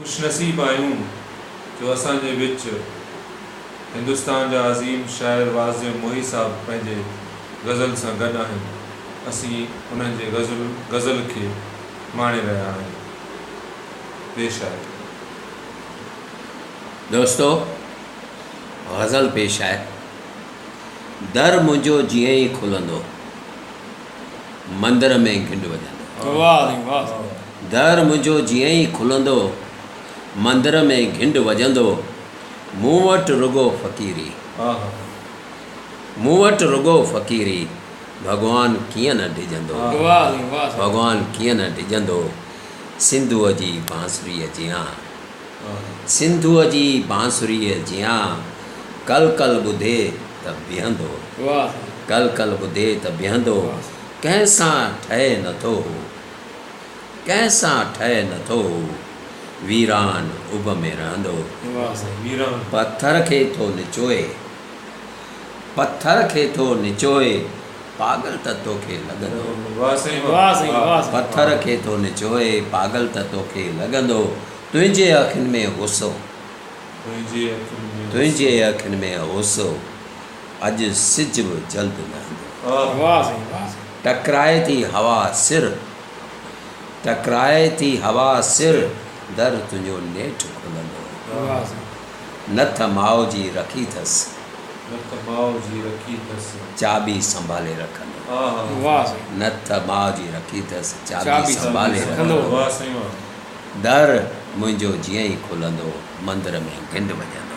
خوشنصيب آهيون جو اسان جي وچ هندستان جا عظيم شاعر واعظ محي صاحب پنهنجي غزل سان گڏ آهن. اسين انهن جي غزل غزل کي ماڻي رهيا آهيون. پيش آهي. دوستو! غزل پيش آهي. در منهنجو جيئن ئي کلندو. مندر ۾ گهنڊ وڄندو. در منهنجو جيئن ئي کلندو، مندر ۾ گهنڊ وڄندو، مون وٽ رڳو فقيري، مون وٽ رڳو فقيري، ڀڳوان ڪيئن نه ڊڄندو، ڀڳوان ڪيئن نه ڊڄندو، سنڌوء جي بانسريء جيان سنڌوء جي بانسريء جيان. ڪل ڪل ٻڌي ته بيهندو. ڪل ڪل ٻڌي ته بيهندو. ڪنهن سان ٺهي نٿو هو. ڪنهن سان ٺهي نٿو هو. ويران اڀ ۾ رهندو. پٿر کي ٿو نچوئي. پٿر کي ٿو نچوئي. پاڳل ته توکي لڳندو. پٿر کي ٿو نچوئي. پاڳل ته توکي لڳندو. تنهنجي اکين ۾ غصو. تنهنجي اکين ۾ غصو. اڄ سج به جلد لهندو. ٽڪرائي ٿي هوا سر. ٽڪرائي ٿي هوا سر. در تنهنجو نيٺ کلندو. نٿ ماء جي رکي ٿس. چاٻي سنڀالي رکندو. نٿ ماء جي رکي ٿس. چاٻي سنڀالي رکندو. در منهنجو جيئن ئي کلندو مندر ۾ گهنڊ وڄندو.